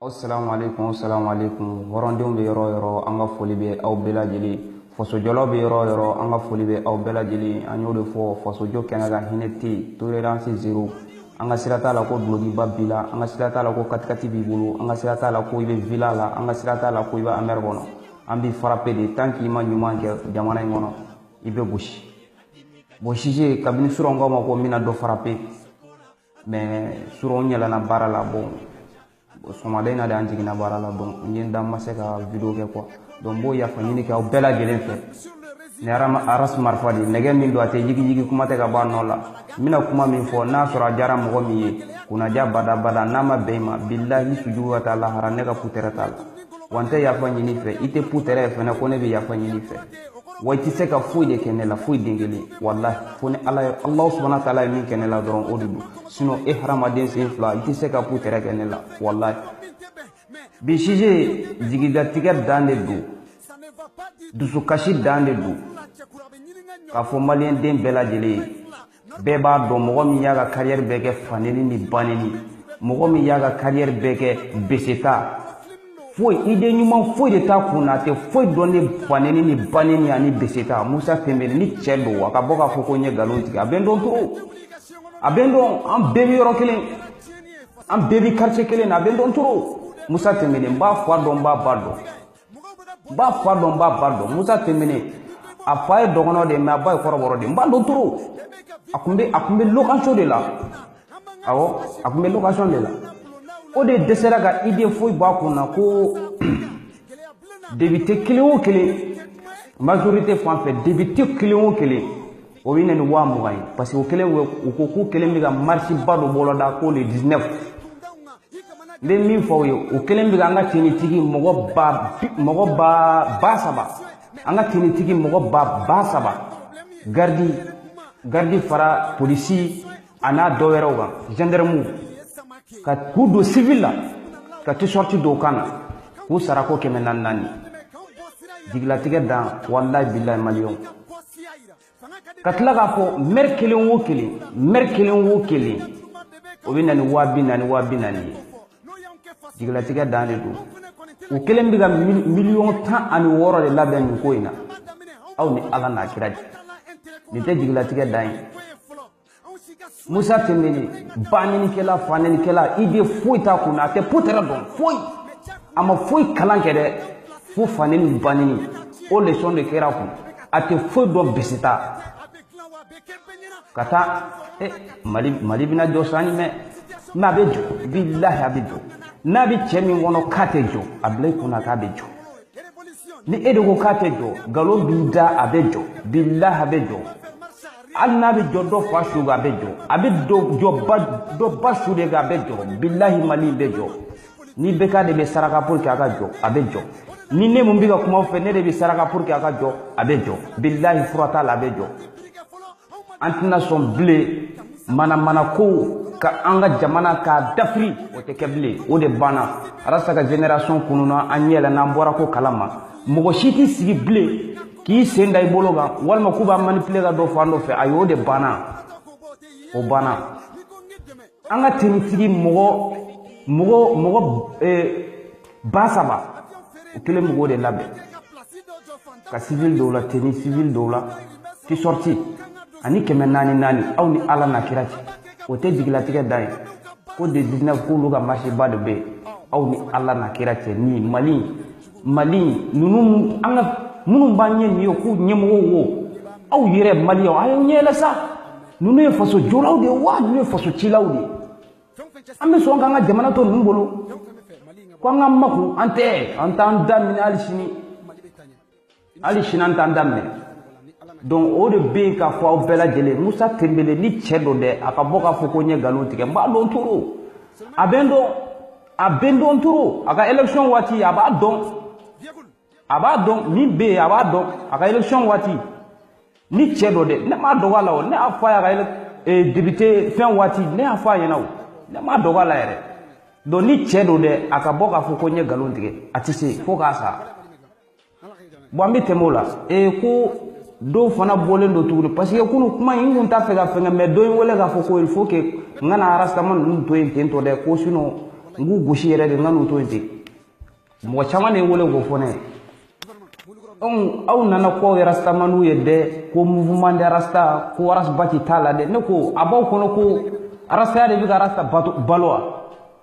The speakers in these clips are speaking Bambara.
Assalamu alaikum, assalamu alaikum. Hɔrɔndenw bɛ yɔrɔ yɔrɔ, an ka foli bɛ aw bɛɛ lajɛlen. Fasojɔlaw bɛ yɔrɔ yɔrɔ, an ka foli bɛ aw bɛɛ lajɛlen. An y'o de fɔ, fasojɔ kɛnɛ kan hinɛ tɛ yen, tolérance zéro. An ka sira t'a la ko dulokiba b'i la, an ka sira t'a la ko katikati b'i bolo, an ka sira t'a la ko i bɛ villa la, an ka sira t'a la ko i bɛ Hummer kɔnɔ. An b'i frappe de tant k'i ma ɲuman kɛ jamana in kɔnɔ, i bɛ gosi. Bon Sise, kabini surɔ n k'a ma ko n bɛna dɔ frappe mɛ surɔ n yɛlɛna baara la bɔn sɔgɔmada in na de an jiginna baara la bɔn n ye n da n ma se ka video kɛ kuwa donc n b'o yafa ɲini kɛ aw bɛɛ lajɛlen fɛ ni aras marifa de nɛgɛ min don a tɛ yigiyigi kuma tɛ ka bɔ a nɔ la n bɛna kuma min fɔ n'a sɔrɔ a diyara mɔgɔ min ye kunnaja badabada n'a ma bɛn i ma bilahi sujugu ka taa lahara ne ka putɛrɛ t'a la wa n tɛ yafa ɲini i fɛ i tɛ putɛrɛ ye fɛnɛ ko ne bɛ yafa ɲini i fɛ wa i tɛ se ka foyi de kɛ ne la foyi den kelen walahi fo ni ala ye alahu subahana wa taala ye min kɛ ne la dɔrɔn o de don sinɔn e hadamaden sen fila i tɛ se ka putɛrɛ kɛ ne la walahi bi sise jigilatigɛ dan de don dusukasi dan de don k'a fɔ maliyɛnden bɛɛ lajɛlen ye bɛɛ b'a dɔn mɔgɔ min y'a ka kariyɛri bɛɛ kɛ faneni ni baneni mɔgɔ min y'a ka kariyɛri bɛɛ kɛ beseta foyi ide ɲuman foyi de t'a kun na a tɛ foyi dɔn ni faneni ni baneni ani beseta musa timbine ni cɛ don a ka bɔ k'a fɔ ko n ye nkalon tigɛ a bɛ n dɔn toro a bɛ n dɔn an bɛɛ bɛ yɔrɔ kelen an bɛɛ bɛ karice kelen na a bɛ n dɔn toro musa timbine n b'a fa dɔn n b'a ba dɔn n b'a fa dɔn n b'a ba dɔn musa timbine a fa ye dɔgɔnɔ de mɛ a ba ye kɔrɔbɔrɔ de n b'a dɔn toro a kun bɛ a kun bɛ location de la awɔ a kun bɛ location de la o de dɛsɛra ka ide foyi bɔ a kun na ko depite kelen o kelen majorité fan fɛ depite kelen o kelen o bɛ na ni waa mugan ye parce que u kɛlen u ko k'u kɛlen bɛ ka marisiba dɔ boloda ko le 19 n bɛ min fɔ aw ye u kɛlen bɛ ka an ka tinitigi mɔgɔ ba mɔgɔ ba ba saba an ka tinitigi mɔgɔ ba ba saba garidi garidi fara polisi an'a dɔ wɛrɛw kan zandaramu ka k'u don sivili la ka tisɔriti don u kan na k'u sara ko kɛmɛ naani naani jigilatigɛ dan walayi bilayi maliyɛnw ka tila k'a fɔ mɛri kelen wo kelen mɛri kelen wo kelen o bɛ na ni waa bi naani waa bi naani ye jigilatigɛ dan de don u kɛlen bɛ ka miliyɔn tan ani wɔɔrɔ de labɛn nin ko in na aw ni ala n'a kira cɛ nin tɛ jigilatigɛ dan ye musa tembele banenikɛla fanenikɛla idée foyi t'a kun na a tɛ putɛrɛ dɔn foyi a ma foyi kalan kɛ dɛ fo faneni baneni o lesɔn de kɛra kun a tɛ foyi dɔn bisita ka taa e mali mali bɛna jɔ san ɲɛ mais a bɛ jɔ bilahi a bɛ jɔ n'a bɛ cɛ min kɔnɔ k'a tɛ jɔ a bila i kunna k'a bɛ jɔ ni e de ko k'a tɛ jɔ nkalon b'i da a bɛ jɔ bilahi a bɛ jɔ hali n'a bɛ jɔ dɔ fa su a bɛ jɔ a bɛ jɔ ba dɔ ba su de a bɛ jɔ bilahi mali bɛ jɔ n'ibɛka de bɛ saraka pour que a ka jɔ a bɛ jɔ ni ne mun bɛ ka kuma fɛ ne de bɛ saraka pour que a ka jɔ a bɛ jɔ bilahi fura t'a la a bɛ jɔ an tɛna sɔn bilen manamana kow ka an ka jamana k'a dafiri o tɛ kɛ bilen o de banna arasa ka génération kununna an ɲɛ yɛlɛnna an bɔra ko kalama mɔgɔ si t'i sigi bilen k'i sen da i bolo kan walima k'u b'a manipile ka don fan dɔ fɛ ayi o de banna o banna an ka tenitigi mɔgɔ mɔgɔ mɔgɔ eh, ba saba u kelen mɔgɔw de labɛn ka sivili don u la teni sivili don u la tisɔriti ani kɛmɛ naani naani aw ni ala n'a kira cɛ o tɛ jigilatigɛ dan ye ko de 19 k'olu ka marche ba de bɛ yen aw ni ala n'a kira cɛ ni mali mali ninnu an ka minnu b'an ɲɛ nin ye k'u ɲɛmɔgɔw wo aw yɛrɛ maliyɛnw a y'aw ɲɛ yɛlɛ sa ninnu ye faso jɔlaw de ye wa ninnu ye faso cilaw de ye an bɛ sɔn k'an ka jamana to ninnu bolo ko an ka makun an tɛ an t'an da minɛ hali sini hali sini an t'an da minɛ donc o de bɛ yen k'a fɔ aw bɛɛ lajɛlen musa tembele ni cɛ don dɛ a ka bɔ k'a fɔ ko n ye nkalon tigɛ n b'a dɔn toro a bɛ n dɔn a bɛ n dɔn toro a ka élection waati a b'a dɔn a b'a dɔn min bɛ yen a b'a dɔn a ka élection waati ni cɛ don dɛ ne m'a dogo a la o ne y'a fɔ a ye a ka eh, député fɛn waati ne y'a fɔ a ɲɛna o ne m'a dogo a la yɛrɛ donc ni cɛ don dɛ a ka bɔ k'a fɔ ko n ye nkalon tigɛ a tɛ se fo k'a sa bon an bɛ tɛmɛ o la ee ko dɔw fana bɔlen don tuguni parce que kunu kuma in n kun t'a fɛ ka fɛngɛ mais dɔ ye n wele k'a fɔ ko il faut que n kana arastama ninnu to yen ten tɔ dɛ ko sinon n k'u gosi yɛrɛ de n kan'u to yen ten mɔgɔ caman de ye n wele k'o fɔ ne ye donc aw nana k'aw ye rastamaniw ye dɛ ko mouvement de rasta ko arasbati t'a la dɛ ne ko a b'aw kɔnɔ ko arastaya de bɛ ka arasta balo wa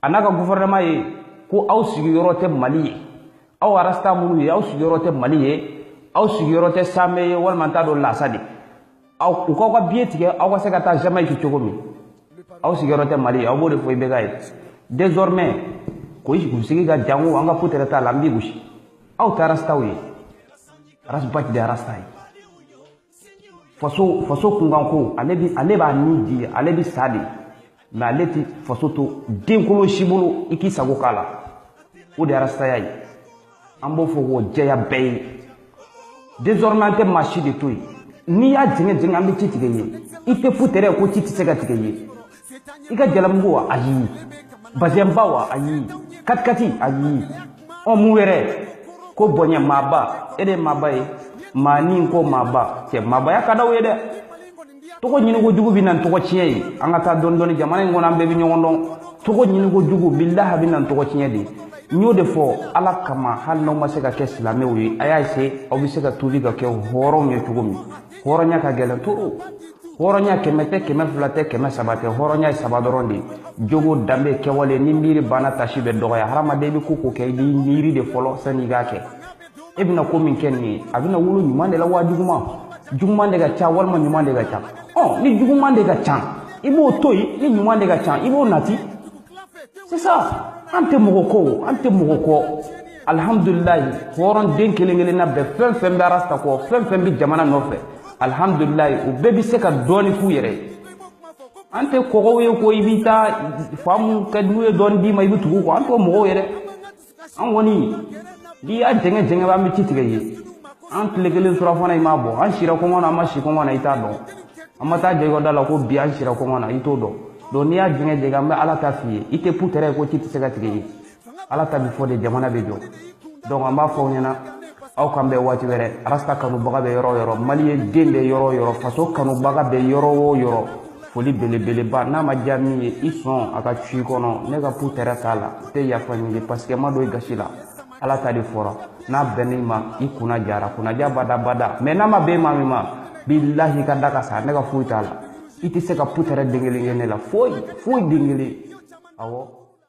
a n'a ka gufɛrɛnaman ye ko aw sigiyɔrɔ tɛ mali ye aw arasta minnu ye aw sigiyɔrɔ tɛ mali ye aw sigiyɔrɔ tɛ samɛ ye walima n t'a dɔn lasa de aw u k'aw ka biye tigɛ aw ka se ka taa jamaïque cogo min aw sigiyɔrɔ tɛ mali ye aw b'o de fɔ ibɛka ye désormais ko kunsigi ka jan ko an ka putɛrɛ t'a la an b'i gosi aw tɛ arastaw ye arasbati de arasta ye faso faso kunkanko ale bi ale b'a ni di ale bi sa de mais ale ti faso to denkolo si bolo i k'i sago k'a la o de arastaya ye an b'o fɔ k'o jɛya bɛɛ ye désormais an tɛ maa si de to yen n'i y'a jɛngɛ jɛngɛ an bɛ ci tigɛ ye i tɛ putɛrɛ ko ci tɛ se ka tigɛ ye i ka jalamugu wa ayi bazɛnba wa ayi katikati ayi ɔ mun wɛrɛ ko bonya maaba e de ye maaba ye maa ni ko maaba cɛ maabaya ka d'aw ye dɛ tɔgɔ ɲiniko jugu bɛ na ni tɔgɔ tiɲɛ ye an ka taa dɔɔni dɔɔni jamana in kɔnɔ an bɛɛ bɛ ɲɔgɔn dɔn tɔgɔ ɲiniko jugu bilahi bɛ na ni tɔgɔ tiɲɛ de ye n y'o de fɔ ala kama hali n'aw ma se ka kɛ silamɛw ye a y'a essayer aw bɛ se ka tuubi ka kɛ hɔrɔnw ye cogo min hɔrɔnya ka gɛlɛn trop hɔrɔnya kɛmɛ tɛ kɛmɛ fila tɛ kɛmɛ saba tɛ hɔrɔnya ye saba dɔrɔn de ye jogo danbe kɛwale ni miiri banna taasi bɛ dɔgɔya hadamaden i bɛ ko o ko kɛ i b'i miiri de fɔlɔ sani i k'a kɛ e bɛna ko min kɛ nin ye a bɛna wolo ɲuman de la wa juguman juguman de ka ca walima ɲuman de ka ca ɔ ni juguman de ka ca i b'o to yen ni ɲuman de ka ca i b'o nati sisan an tɛ mɔgɔ kɔ an tɛ mɔgɔ kɔ alihamudulilayi hɔrɔn den kelen kelenna bɛɛ fɛn fɛn bɛ arasta kɔ fɛn fɛn bɛ jamana nɔfɛ alihamudulilayi u bɛɛ bɛ se ka dɔɔni k'u yɛrɛ ye an tɛ kɔgɔw ye ko i bɛ taa faamaw kan n'u ye dɔɔni d'i ma i bɛ tugu u kɔ an t'o mɔgɔw yɛrɛ an kɔni n'i y'a jɛngɛ jɛngɛ an bɛ ci tigɛ ye an tile kelen surɔfana i m'a bɔ an sira kɔngɔ na an ma si kɔngɔ na i t'a dɔn an ma taa j'e ka da la ko bi an sira kɔngɔ na i t'o dɔn donc n'i y'a jɛngɛ jɛngɛ an bɛ ala ta f'i ye i tɛ putɛrɛ ye ko ci tɛ se ka tigɛ ye ala ta bɛ fɔ de jamana bɛ jɔ donc an b'a fɔ aw ɲɛna aw k'an bɛn waati wɛrɛ arasta kanubaga bɛ yɔrɔ o yɔrɔ maliyɛn den bɛ yɔrɔ o yɔrɔ faso kanubaga bɛ yɔrɔ o yɔrɔ foli belebeleba n'a ma diya min ye i sɔn a ka cu i kɔnɔ ne ka putɛrɛ t'a la n tɛ yafa ɲini parce que n ma don i gasi la ala ta de fɔra n'a bɛnn'i ma i kunna diyara kunnadiya bada bada mais n'a ma bɛn maa min ma bilahi ka da ka sa ne ka foyi t'a la i tɛ se ka putɛrɛ den kelen kɛ ne la foyi foyi den kelen awɔ